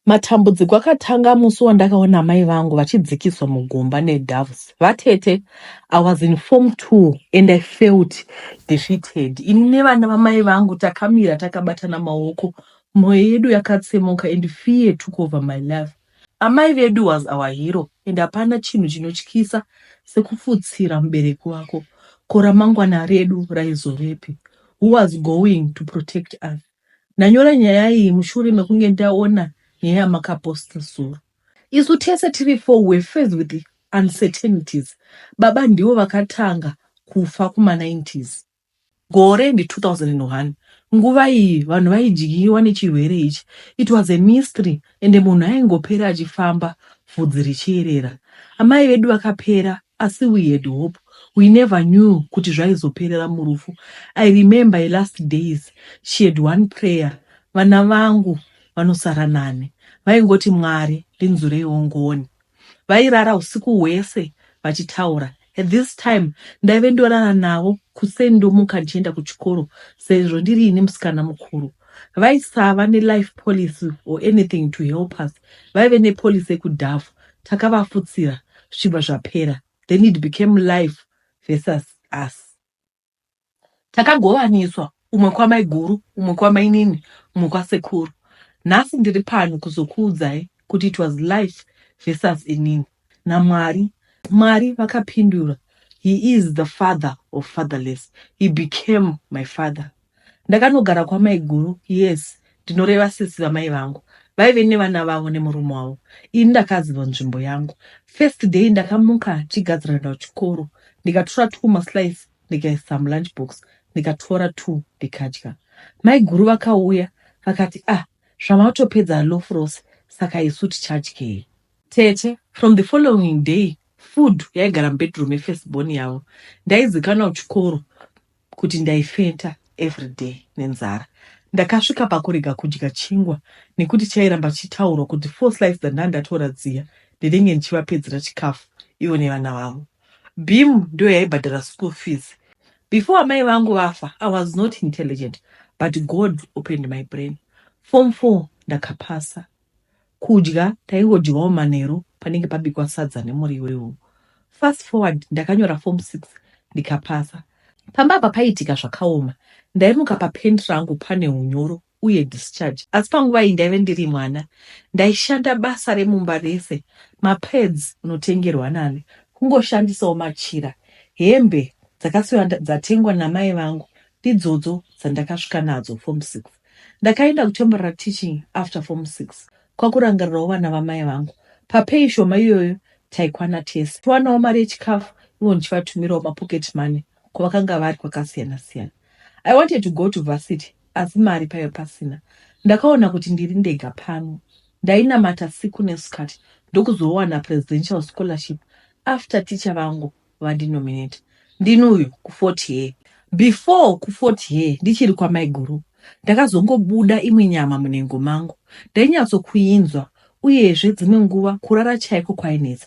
Matambudziko akatanga musi wandakaona amai vangu vachidzikiswa mugomba nedoves. Vatete, I was in form two and I felt defeated. Ini nevana vamai vangu takamira takabatana maoko, moyo yedu yakatsemuka and fear took over my life. Amai vedu was our hero and hapana chinhu chinotyisa sekufutsira mubereki wako. Ko ramangwana redu raizovepi? Who was going to protect us? Ndanyora nyaya iyi mushure mekunge ndaona nyaya yamakaposta zuro. Isu tese tiri four were faced with uncertainties. Baba ndivo vakatanga kufa kuma90s. Gore ndi 2001. Nguva iyi vanhu vaidyiwa nechirwere ichi. It was a mystery ende munhu aingopera achifamba vhudzi richierera amai vedu vakapera asi we had hope we never knew kuti zvaizoperera murufu i remember i last days she had one prayer vana vangu vanosara nani vaingoti mwari ndinzureiwo ngoni Vairara husiku hwese vachitaura. At this time ndaive ndorara navo kuseni ndomuka ndichienda kuchikoro sezvo ndiri ini musikana mukuru. Vaisava nelife policy or anything to help us. Vaive nepolicy yekudhafu. Takavafutsira zvichibva zvapera then it became life versus us. Takagovaniswa umwe kwamaiguru, umwe kwamainini, umwe kwasekuru. Nhasi ndiri pano kuzokuudzai kuti it was life versus inini naMwari. Mwari vakapindura He is the father of fatherless. He became my father. Ndakanogara kwamaiguru, yes, ndinoreva sisi vamai vangu vaive nevana vavo nemurume wavo ini ndakaziva nzvimbo yangu first day ndakamuka chigadzira nda kuchikoro ndikatora two maslice ndikaisa mulunch box ndikatora two ndikadya maiguru vakauya vakati ah zvamatopedza lof rose saka isu tichadyei tete from the following day food yaigara mubedroom yefirst born yavo ndaizikanwa kuchikoro kuti ndaifenta everyday nenzara. Ndakasvika pakurega kudya chingwa nekuti chairamba chichitaurwa kuti four slice dzandandatora dziya ndinenge ndichivapedzera chikafu ivo nevana vavo. Beam ndiyo yaibhadhara school fees. Before amai vangu vafa I was not intelligent but God opened my brain. Form four ndakapasa. Kudya taingodyawo manheru panenge pabikwa sadza nemuriwo iwowo. Fast forward ndakanyora form six ndikapasa. Pamba apa paiitika zvakaoma. Ndaimuka papant rangu pane hunyoro uye discharge. Asi panguva iyi ndaive ndiri mwana. Ndaishanda basa remumba rese, mapads unotengerwa nani, kungoshandisawo machira. Hembe dzakasiiwa dzatengwa namai vangu ndidzodzo dzandakasvika nadzo form six. Ndakaenda kutemporary teaching after form six kwakurangarirawo vana vamai vangu. Papay shoma iyoyo taikwana tese. Tiwanawo mari yechikafu ivo ndichivatumirawo mapocket money kwavakanga vari kwakasiyana siyana. I wanted to go to varsity asi mari paive pasina. Ndakaona kuti ndiri ndega pano. Ndainamata siku nesikati ndokuzowana presidential scholarship after teacher vangu vandinominate ndini uyu kufort here before kufort here ndichiri kwamaiguru ndakazongobuda imwe nyama munhengo mangu ndainyatsokuinzwa uyezve dzimwe nguva kurara chaiko kwainetsa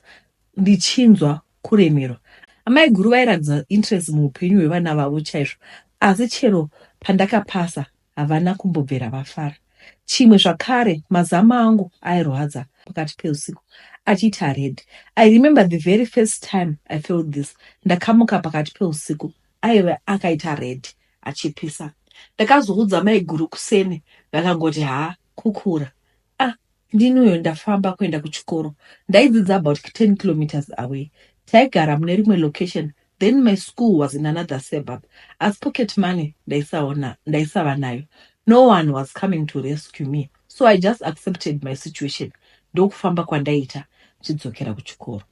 ndichinzwa kuremerwa amai guru vairatidza interest muupenyu hwevana vavo chaizvo asi chero pandakapasa Havana kumbobvera vafara. Chimwe zvakare, mazama angu airwadza pakati peusiku achiita red. I remember the very first time I felt this. Ndakamuka pakati peusiku aive akaita red achipisa. Ndakazoudza maiguru kuseni vakangoti haa kukura. Ndini uyo ndafamba kuenda kuchikoro. Ndaidzidza about 10 kilometres away. Taigara mune rimwe location then my school was in another suburb asi pocket money ndaisaona ndaisava nayo. No one was coming to rescue me so I just accepted my situation ndokufamba kwandaiita ndichidzokera kuchikoro.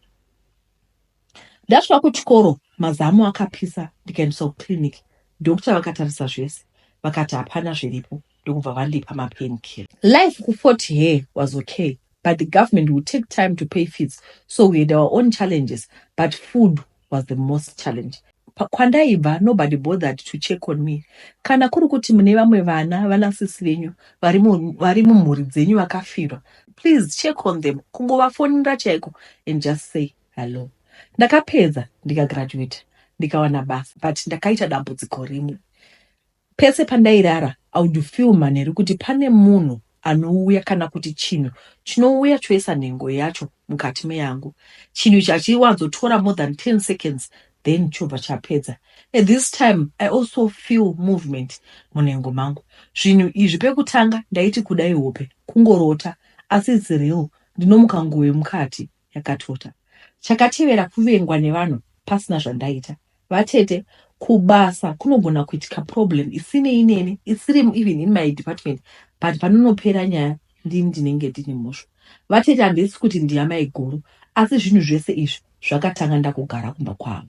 Ndasvika kuchikoro mazamu akapisa ndikaendeswa kuclinic. Doctor vakatarisa zvese vakati hapana zviripo ndokubva vandipa mapain kill. Life ku 40 hair was okay but the government will take time to pay fees so we had our own challenges but food was the most challenge. Kwandaibva nobody bothered to check on me. Kana kuri kuti mune vamwe vana vana sisi venyu vari mumhuri dzenyu vakafirwa please check on them kungovafonera chaiko and just say Hallo. Ndakapedza ndikagraduater ndikawana basa but ndakaita dambudziko rimwe. Pese pandairara I would feel manheru kuti pane munhu anouya kana kuti chinhu chinouya choisa nhengo yacho mukati meyangu. Chinhu ichi hachiwanzotora more than 10 seconds then chobva chapedza. At this time I also feel movement munhengo mangu. Zvinhu izvi pekutanga ndaiti kudai hope kungorota asi it's real ndinomuka nguwe mukati yakatota. Chakatevera kuvengwa nevanhu pasina zvandaita. Vatete kubasa kunogona kuitika problem isinei neni isiri even in my department but panonopera nyaya ndini ndinenge ndine mhosva. Vatete handisi kuti ndiyamaiguru asi zvinhu zvese izvi zvakatanga ndakugara kumba kwavo.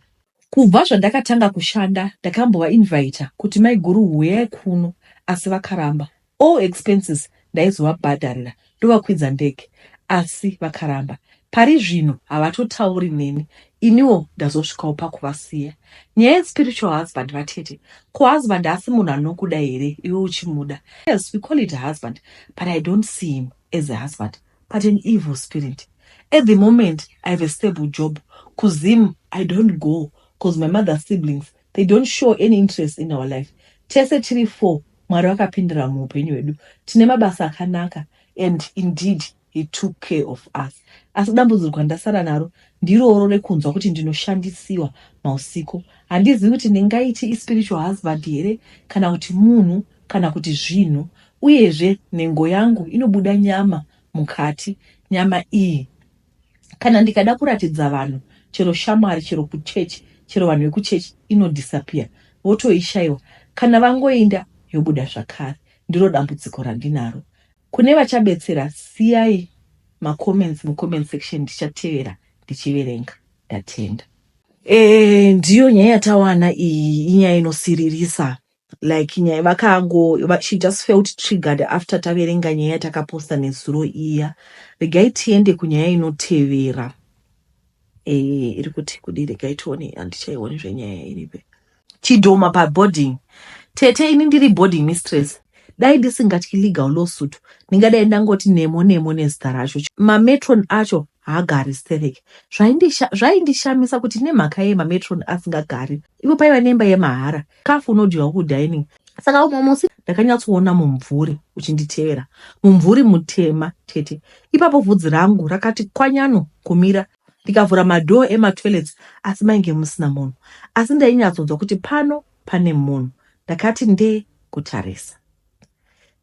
Kubva zvandakatanga kushanda ndakambovainvita kuti maiguru huyai kuno asi vakaramba. All expenses ndaizovabhadharira ndovakwidza ndege asi vakaramba. Pari zvino havatotauri neni iniwo ndazosvikawo pakuvasiya. Nyaya yespiritual husband vatete, ko husband haasi munhu anokuda here iwe uchimuda? Yes, we call it husband but I don't see him as a husband but an evil spirit. At the moment I have a stable job, kuZim I don't go cause my mother's siblings They don't show any interest in our life. Tese tiri four Mwari vakapindira muupenyu hwedu. Tine mabasa akanaka and indeed he took care of us. Asi dambudzirwa ndasara naro ndirooro rekunzwa kuti ndinoshandisiwa mausiku. Handizivi kuti ndingaiti ispiritual husband here kana kuti munhu kana kuti zvinhu. Uyezve nhengo yangu inobuda nyama mukati. Nyama iyi kana ndikada kuratidza vanhu chero shamwari chero kuchechi chero vanhu vekuchechi inodisappear votoishaiwa kana vangoinda yobuda zvakare ndiro dambudziko randinaro kune vachabetsera siyai macomments mucomment section ndichatevera ndichiverenga ndatenda e, ndiyo nyaya yatawana iyi inyaya inosiririsa like nyaya vakango va- she just felt triggered after taverenga nyaya yatakaposta nezuro iya regai tiende kunyaya inotevera eh, iri kuti kudi regai tione handichaioni zvenyaya iripe chidhoma paboarding tete ini ndiri boarding mistress dai ndisingatyi legal lawsuit ndingadai ndangoti nemo nemo nezita racho mametron acho haagari sterek zvaindisha- zvaindishamisa kuti nemhaka yei mametron asingagari ivo paiva nemba yemahara Kafu unodyiwa ku dining. Saka umwe musi ndakanyatsoona mumvuri uchinditevera. Mumvuri mutema tete. Ipapo vhudzi rangu rakati kwanyano kumira ndikavhura madoor ema toilets asi mainge musina munhu. Asi ndainyatsonzwa kuti pano pane munhu. Ndakati ndee kutarisa.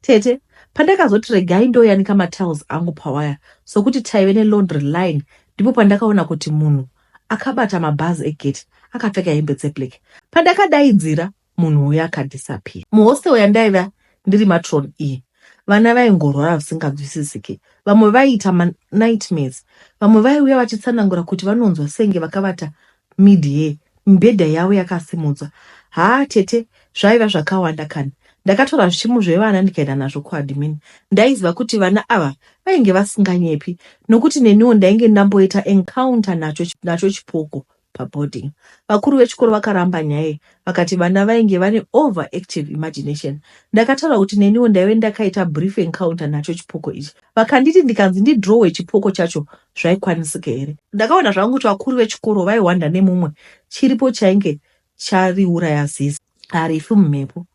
Tete, pandakazoti regai ndoyanika matiles angu pawaya sokuti taive nelaundry line ndipo pandakaona kuti munhu akabata mabhazi egate akapfeka hembe dzeblack. Pandakadaidzira munhu uya akadisappear. Muhostel yandaiva ndiri matron iyi vana vaingorwara zvisingabvisisiki vamwe vaiita manightmares vamwe vaiuya vachitsanangura kuti vanonzwa senge vakavata mid here mibhedha yavo yakasimudzwa haa tete zvaiva zvakawanda kani ndakatora zvichimu zvevana ndikaenda nazvo kuadmin ndaiziva kuti vana ava vainge vasinganyepi nokuti neniwo ndainge ndamboita encounter nacho, nacho chipoko paboarding vakuru vechikoro vakaramba nyaya vakati vana vainge vane over active imagination ndakataura kuti neniwo ndaive ndakaita brief encounter nacho chipoko ichi vakanditi ndikanzi ndidrowe chipoko chacho zvaikwanisika here. Ndakaona zvangu kuti vakuru vechikoro vaihwanda nemumwe chiripo chainge chariuraya zizi harifi mumhepo.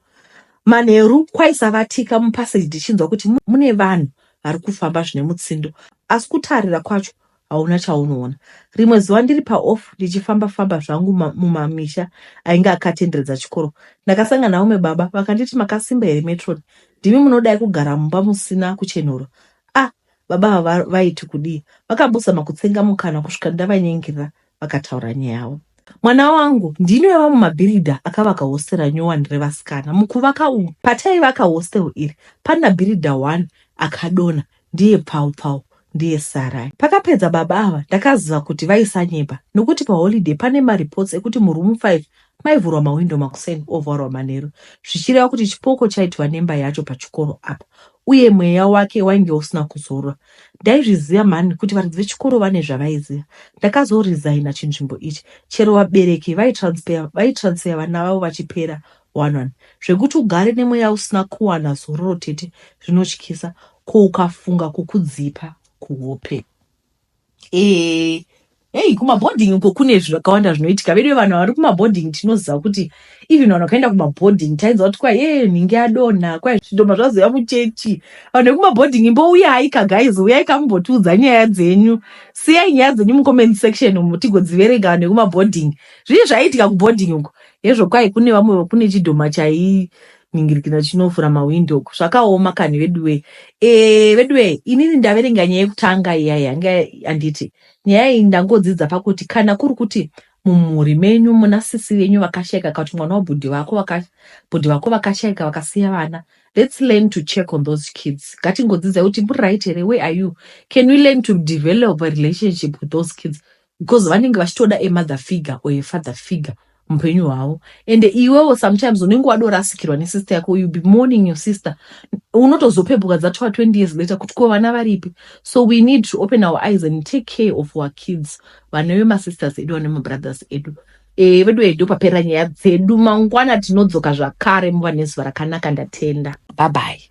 Manheru kwaisavatika mupaseji ndichinzwa kuti mune vanhu vari kufamba zvine mutsindo asi kutarira kwacho hauna chaunoona. Rimwe zuva ndiri paof ndichifamba famba zvangu mumamisha ainge akatenderedza chikoro ndakasangana naumwe baba vakanditi makasimba here metron ndimi munodai kugara mumba musina kuchenhura ah Baba ava vaiti kudii? Vakabusa makutsenga mukana kusvika ndavanyengirira vakataura nyaya yavo. Mwana wangu ndini wevamwe mabhiridha akavaka hostera nyowani revasikana. Mukuvaka umu, pataivaka hostel iri, pana bhiridha one akadona, ndiye pfau pfau, ndiye Sarai. Pakapedza baba ava ndakaziva kuti vaisanyepa nokuti paholiday pane mareports ekuti muroom five Maivhurwa mahwindo makuseni ovharwa manheru zvichireva kuti chipoko chaidiwa nemba yacho pachikoro apa uye mweya wake wainge usina kuzorwa. Ndaizviziva mhani kuti varidzi vechikoro vane zvavaiziva. Ndakazoresigner chinzvimbo ichi chero vabereki vaitransfer vaitransfer vana vavo vachipera one one zvekuti ugare nemweya usina kuwana zororo tete zvinotyisa ko ukafunga kukudzipa kuhope. Eh, hey, kumabhodhingi uko kune zvakawanda zvinoitika veduwe vanhu vari kumabhodhingi tinoziva kuti even vanhu vakaenda kumabhodhingi tainza kuti kwai e nhingi yadonha kwai zvidhoma zvazoya muchechi vanhu vekumabhodhingi mbouyayika guys uyayika mumbotiudza nyaya dzenyu siyai nyaya dzenyu mucomment section umu tigodziverenga vanhu vekumabhodhingi zvii zvaiitika kubhodhingi uko hezvo kwai kune vamwe kune chidhoma chai ningirikina chinovhura mawindow zvakaoma kani veduwe eh, veduwe inini ndaverenga nyaya yekutanga iya yanga anditi nyaya iyi ndangodzidza pakuti kana kuri kuti mumhuri menyu muna sisi venyu vakashaika kakuti mwana wabhudhi vako bhudhi vako vakashaika vakasiya vana let's learn to check on those kids ngatingodzidza kuti muri right here where are you can we learn to develop a relationship with those kids because vanenge vachitoda a mother figure or a father figure mupenyu hwavo and iwewo sometimes unenge wadorasikirwa nesister yako you be mourning your sister unotozopepuka dzatova 20 years later kuti ko vana varipi so we need to open our eyes and take care of our kids vana vemasisters edu vana vemabrothers edu e, vedu edu papera nyaya dzedu mangwana tinodzoka zvakare muva nezuva rakanaka ndatenda babai